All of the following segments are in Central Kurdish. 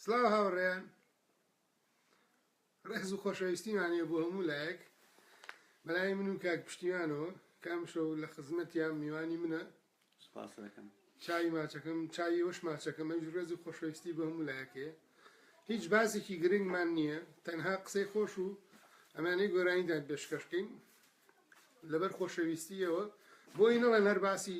سلاو هاوڕێیان ڕێز و خۆشەویستیمانێ بۆ هەموو لایەک بەلای من و کاک پشتیوانەوە کام شەو لە خزمەتیان میوانی منە سپاسەکەم چای ماچەکەم چای وەش ماچەکەم ئەوش ڕێز و خۆشەویستی بۆ هەموو لایەکەیە هیچ باسێکی گرنگمان نییە تەنها قسەی خۆش و ئەمانەی گۆرانیدان پێشکەشکەین لەبەر خۆشەویستیەوە بۆی نەڵێن هەر باسی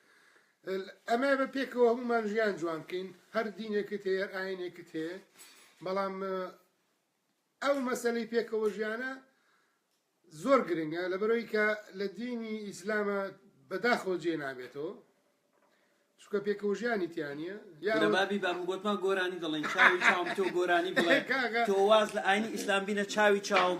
ئەمەیە بە پێکەوە هەموومان ژیان جوان بکەین هەر دینێکت هەیە هەر ئاینێکت هەیە بەڵام ئەو مەسلەی پێکەوە ژیانە زۆر گرنگە لە بەرەوەی کە لە دینی ئیسلامە بەداخەوە جێ نابێتەوە چکە پێکەوە ژیانی تیانە یابابی بام گوتمان گۆرانی دەڵێن چاوی چاوم تۆ گۆرانی بڵێ تۆ واز لە ئاینی ئیسلام بینە چاوی چاوم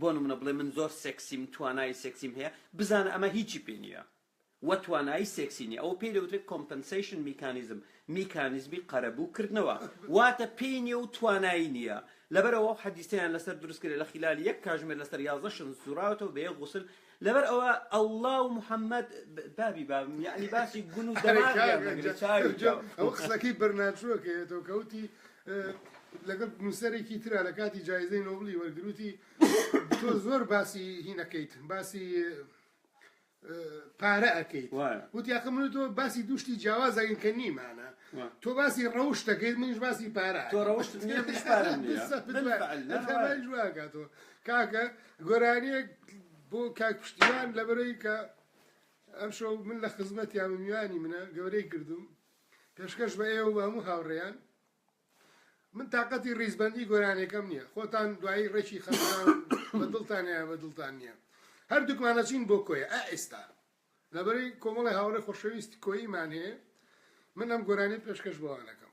بۆ نمونە بڵێ من زۆر سێکسیم توانایی سێکسیم هەیە بزانە ئەمە هیچی پێ نییە و توانایی سێکسی نییە ئەوە پێی دەوترێت کۆمپنسەیشن میکانیزم میکانیزمی قەرەبوو کردنەوە واتە پێی نییە و توانایی نییە لەبەرەوە ئەو حەدیسەیان لەسەر دروست کرێ لە خلال یەک کاژمێر لەسەر یازدە شن سوراوەتەوە بە یەک غوسل لەبەر ئەوە ئەڵڵا و محەممەد بابی بابم یعنی باسی گون و دەماغیان دەگرێت چاوی ئەو قسەکەی بەرناچووەکەیەوە کەوتی لەگەڵ نووسەرێکی ترا لە کاتی جایزەی نۆبڵی وەرگر وتی، تۆ زۆر باسی هین ئەکەیت، باسی پارە ئەکەیت. وتی، ئاخر من و تۆ باسی دوو شتی جیاواز ئەکەین کە نیمانە. تۆ باسی ڕەوشت ئەکەیت، منیش باسی پارە ئەکەم. تۆ ڕەوشتت نییە، منیش پارەم نییە. بالفعل. ئەمانیش وا ئەکات و. کاکە، گۆرانییەک بۆ کاک پشتیوان لەبەرئەوەی کە ئەمشەو من لە خزمەتیام و میوانی منە، گەورەی کردووم. پێشکەش بە ئێوە و بە هەموو هاوڕێیان. من تاقەتی ڕیزبەندی گۆرانێکەم نییە، خۆتان دوایی ڕێکی خەمتان و بە دڵتانە یان بە دڵتان نییە، هەردووکمان ئەچین بۆ کۆیە ئا ئێستا لەبەرەی کۆمەڵی هاوڕێ خۆشەویست کۆییمان هەیە، من ئەم گۆرانیە پێشکەش بەوان ئەکەم.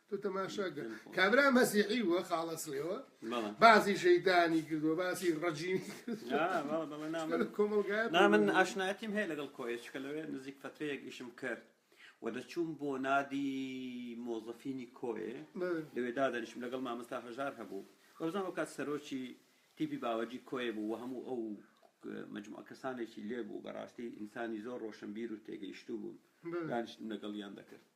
تۆ تەماشا کە کابرا مەسیحی بووە خاڵە سڵێوە باسی شەیتانی کردووە باسی ڕەجیمی کۆمەلگای نا من ئاشنایەتیم هەیە لەگەڵ کۆیە چکە لەوێ نزیک فترەیەک ئیشم کرد و دەچووم بۆ نادی مۆزەفینی کۆێ لەوێ دادەنیشم لەگەڵ مامەستا هەژار هەبوو ئەوزان وکات سەرۆکی تیپی باوەجی کۆێ بوو و هەموو ئەو مجموعە کەسانێکی لێبوو بەڕاستی ئینسانی زۆر ڕۆشنبیر و تێگەیشتوو بوون دانیشتن لەگەڵیان دەکرد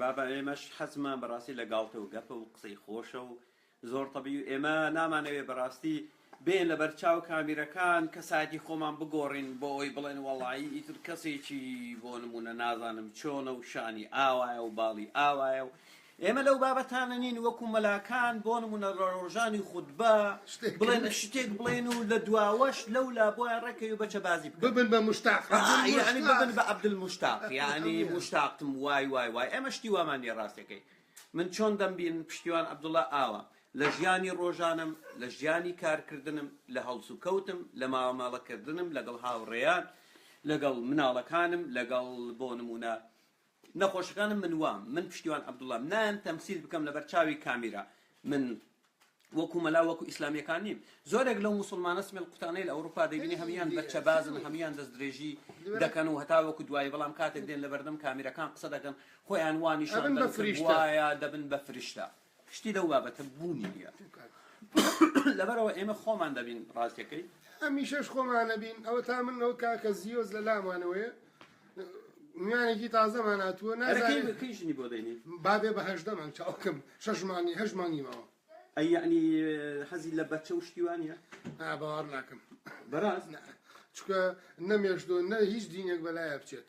بابە ئێمەش حەزمان بەڕاستی لە گاڵتە و گەپە و قسەی خۆشە و زۆر تەبیی و ئێمە نامانەوێ بەڕاستی بێن لە بەرچاو کامیرەکان کەسایەتی خۆمان بگۆڕین بۆ ئەوەی بڵێن وەڵایی ئیتر کەسێکی بۆ نمونە نازانم چۆنە و شانی ئاوایە و باڵی ئاوایە و ئێمە لەو بابەتانە نین وەکو مەلاکان بۆ نمونە ڕۆژانی خودبە بڵێن شتێک بڵێن و لە دواوەش لەو لا بۆە ڕێکەوی بەچە بازی ببن بە مشتاق ببن بە عبدل مشتاق یعنی مشتاقتم وای وای وای ئەمە شتی وامان لێ ڕاستەکەی من چۆن دەمبین پشتیوان عبدوڵە ئاوە لە ژیانی ڕۆژانم لە ژیانی کارکردنم لە هەڵس و کەوتم لە ماوەماڵەکردنم لەگەڵ هاوڕێیان لەگەڵ مناڵەکانم لەگەڵ بۆ نمونە نەخۆشەکانم من وام من پشتیوان عبداللام نایەم تەمسیل بکەم لەبەر چاوی کامیرا من وەکو مەلا وەکو ئیسلامیەکان نیم زۆرێک لەو مسلمانە سمێل قوتانەی لە ئەوروپا دەبینی هەمیان بە چەبازن هەمیان دەست درێژی دەکەن و هەتا وەکو دوایی بەڵام کاتێک دێن لە بەردەم کامیرەکان قسە دەکەن خۆیان وانیشان دەن وایە دەبن بە فرشتە شتی لەو بابەتە بوونی نیە لەبەرئەوە ئێمە خۆمان دەبین ڕاستیەکەی. هەمیشەش خۆمان ئەبین ئەوە تا من ئەو کاکە زیۆز لە لامانەوەیە میانێکی تازەمان هاتووە نازانێت کەی ژنی بۆ دەینی بابێ بە هەشدە مانگ چاوکەم شەش مانگی هەش مانگی ماوە ئەی یعنی حەزی لە بەچە و شتیوانە نا باوەڕ ناکەم بەراز چکە نەمێشتۆ نە هیچ دینێک بەلایە بچێت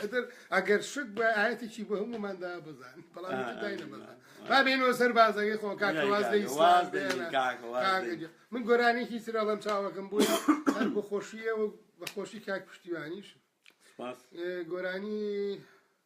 ئەتر ئەگەر شت بە ئاەتێکی بە هەموماندا بزان بەڵام با بێنەوە سەر بازەکەی خۆ کاکواز من گۆرانێکی سرەڵم چاوەکەم بووی هەر بە خۆشیەوە بە خۆشی کاک پشتیوانیش گۆرانی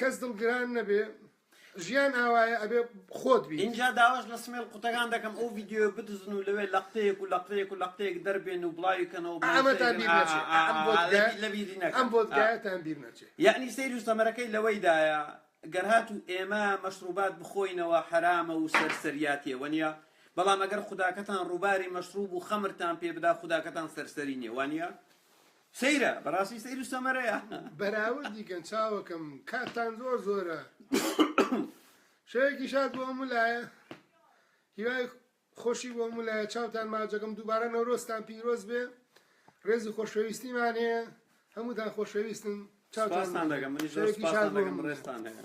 کەس دڵگران نەبێ ژیان ئاوایە ئەبێ خۆت بیت. ئینجا داواش لە سمێڵ قوتەکان دەکەم ئەو ڤیدیۆیە بدزن و لەوێ لەقتەیەک و لەقتەیەک و لەقتەیەک دەربێن و بڵاوی کەنەوە بۆ ئەمەتان بیر نەچێ ئا ئا ئا ئا لە بیری نەکەن ئەم بۆدگایەتان بیر نەچێ یەعنی سەیر و سەمەرەکەی لەوەیدایە گەر هاتوو ئێمە مەشڕووبات بخۆینەوە حەرامە و سەرسەریاتیە وەنیە بەڵام ئەگەر خوداکەتان ڕووباری مەشڕووب و خەمرتان پێ بدا خوداکەتان سەرسەری نیە وانیە؟ سەیرە بەڕاستی سەیر و سەمەرەیە. بەراوردی کەن چاوەکەم کاتتان زۆر زۆرە شەوێکی شاد بۆ هەموو لایە هیوای خۆشی بۆ هەموو لایە چاوتان ماجەکەم دووبارە نەورۆزتان پیرۆز بێ ڕێز و خۆشەویستیمان هەیە هەمووتان خۆشەویستن چاوتان سپاستان دەکەم منیش زۆر شەوێکی شاد سپاستان بۆ دەکەم هەموو لایە. ڕێزتان هەیە.